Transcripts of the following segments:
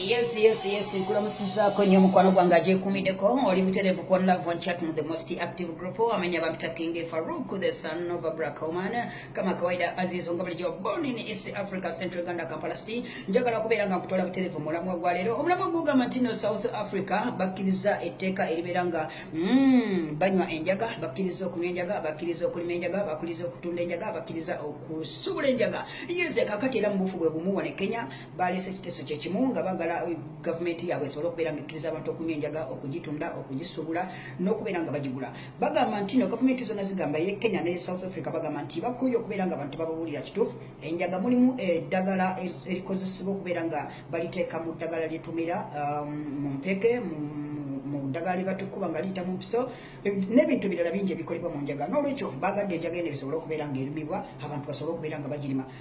Yes, yes, yes. Nkulamusizaako nnyo mukwano gwange agyekuumideko oli butereevu ku love one chat mu the most active group amanya bampita king farouk the son of black woman kama kawaida azizo nga bulijjo born in east africa central uganda kampala city njagala okubeera nga nkutwala butereevu mu mulamwa gwa leero omulamwa gugamba nti no south africa bakkiriza etteeka eribeera nga mm, banywa enjaga bakkiriza okunywa enjaga bakkiriza okulima enjaga bakkiriza okutunda enjaga bakkiriza okusubula enjaga yeze kakati era mu bufu bwe bumu wano e kenya baleese ekiteeso kye kimu nga bagala eh, gavumenti yaabwe esobole okubeera nga ekkiriza abantu okunywa enjaga okugitunda okugisubula n'okubeera nga bagigula bagamba nti no gavumenti zonna zigamba ye kenya ne south africa bagamba nti bakuye okubeera nga abantu bababuulira kituufu enjaga mulimu eh, eddagala erikozesebwa okubeera nga baliteeka mu ddagala lyetumira um, mu mpeke mu mu ddagala lyebatukuba nga liyita mu mpiso n'ebintu birala bingi ebikolebwa mu njaga n'olwekyo bagadde enjaga eno ebisobole okubeera nga erumibwa abantu basobole okubeera nga bagirima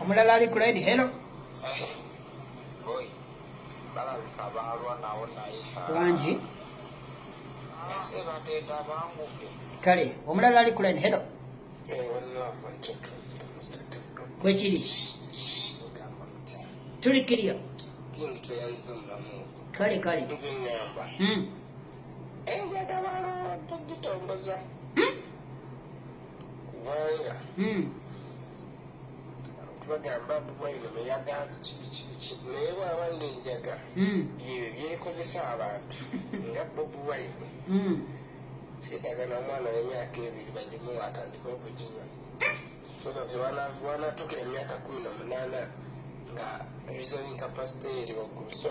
omulala ali ku line hello wangi kale omulala ali ku line hello bwekiri tuli kiriyo kale kale hmm. bagamba bwino meyagamba kibikibiki naye bwaba ngaenjaga hmm. byebyo byekozesa abantu nga bobi wine hmm. kyetagana omwana wemyaka ebiri bagimuwa atandika okuginywa wanatukira emyaka kumi nomunana nga reasoning capacity eri waggulu so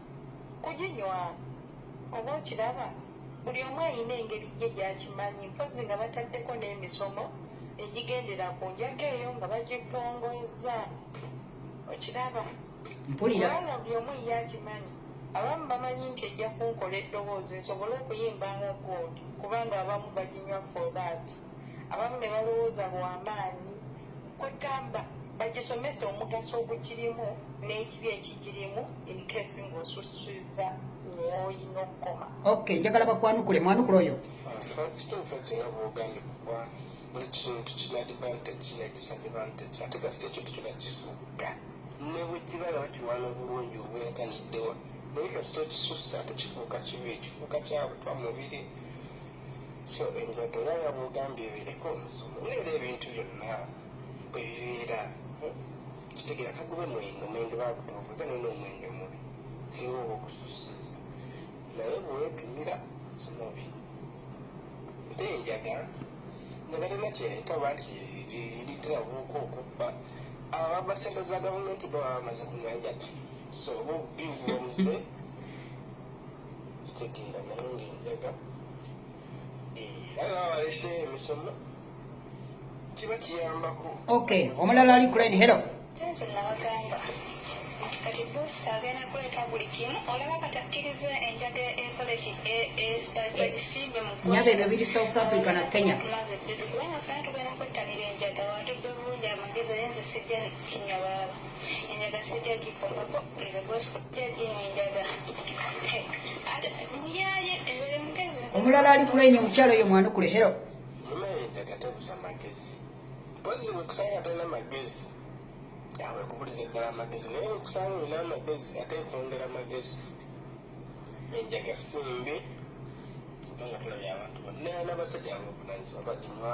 kuginywa oba okiraba buli omu ayina engeri ye gyakimanyi mpozi nga bataddeko n'emisomo egigendera ku njaga eyo nga bagitongozza okiraba mpuliraana buli omu ye akimanyi abamu bamanyi nti ejja kunkola eddoboozi nsobole okuyimba nga gold kubanga abamu baginywa for that abamu ne balowooza lwamaanyi kwegamba bagisomesa omugaso ogugirimu n'ekibi ekigirimu inkesi ng'osusiza olina okukoma ok njagala bakwanukule mwanukula oyo kituufu ekina bwogambi kuba buli kintu kina advantage kina disadvantage ate kasita ekintu kyona kisiga ne bwekiba nga bakiwana obulungi obwerekaniddewa naye kasita okisusa tekifuuka kibi kifuuka kyabutwa mubiri so enjaga era nga bwogambye ebireka omuzimu leero ebintu byonna bwe bibeera kitegera kagube mwendo mwendo bagutubuza naye nomwendo mubi singa oba okususiza naye bwewepimira simubi ate enjaga nga balina kyereta oba nti litiravuuka okubba abo baba sente za gavumenti baba bamaze kunywa njaga so oba obubi bubamuze kitegeera naye ngaenjaga era balese emisomo kiba kiyambako ok omulala ali kuleni hero nze nabagamba nti kati bosi agenda kuleeta buli kimu olaba katakkiriza enjaga ekoleki ebagisimbe munyaba ebyo biri south africa na kenya tumaze eddudu kubanga fena tugenda kwettanira enjaga watudde obulungi amagezi oyenze sijja kinywa baaba enjaga sijja gikolapo omulala ali kulenya omukyalo oyo mwanukule hero yakubuliza eddala amagezi naye wekusanga olina amagezi ate kwongera amagezi enjaga simbi kubanga tulabye abantu bonna n'abasajja abavunanyizibwa baginywa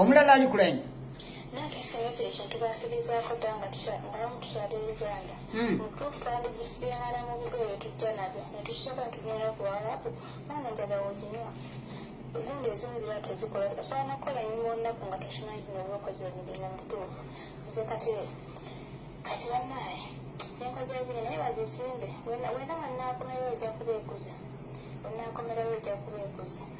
omulala ali kulanya nange esayo kyekintu bansibizaako dda nga ngamu tukyali e uganda hmm. mutuufu twandigisiyangana mu bigo ebyo tujja nabyo netukisooka tugenda ku walapu maana njaga woginywa egundi ezimu ziba tezikola osobola nokukola enyuma olunaku nga tokimanyi bino byokoze emirimu mutuufu nze kati kati banaye kyenkoze ebiri naye bagisimbe wena wanaakomeyo ojja kubeekuza onaakomerayo ojja kubeekuza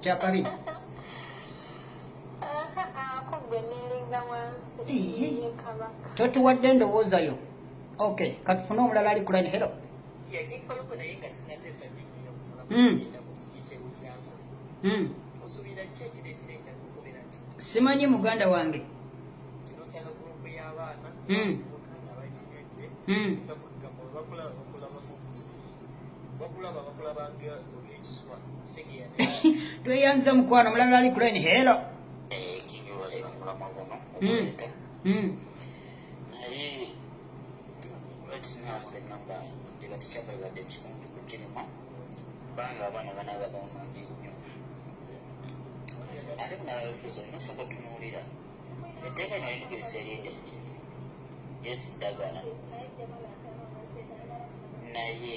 kyakabi totuwadde endowooza yo ok katufune omulala ali kulani hero hmm. hmm. simanyi muganda wange hmm. bakulaba bakulaba nga tweyanza mukwano mulala ali kulaini helo hmm. hmm. ate kunalalufuza olina osoka otunuulira etteeka lino limugeresa erinde yesidagala naye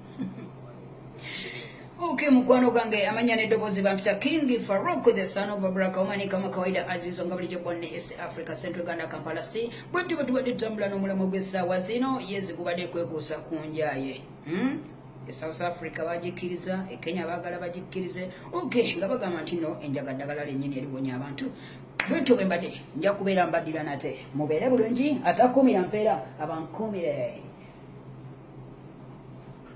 Okay, mukwano gange amanya ne dobozi bampita King Farouk the son of Baraka Omani kama kawaida azizo nga bulijjo bwanne East Africa Central Uganda Kampala City bwetyo bwe tubadde tutambula n'omulamwa gw'essaawa zino yezi gubadde kwekuusa ku njaye hmm? e South Africa bagikkiriza e Kenya baagala bagikkirize okay nga bagamba nti no enjaga ddagala lennyini eriwonya abantu bwentyo bwe mbadde nja kubeera mbaddira nate mubeere bulungi atakuumira mpeera abankuumire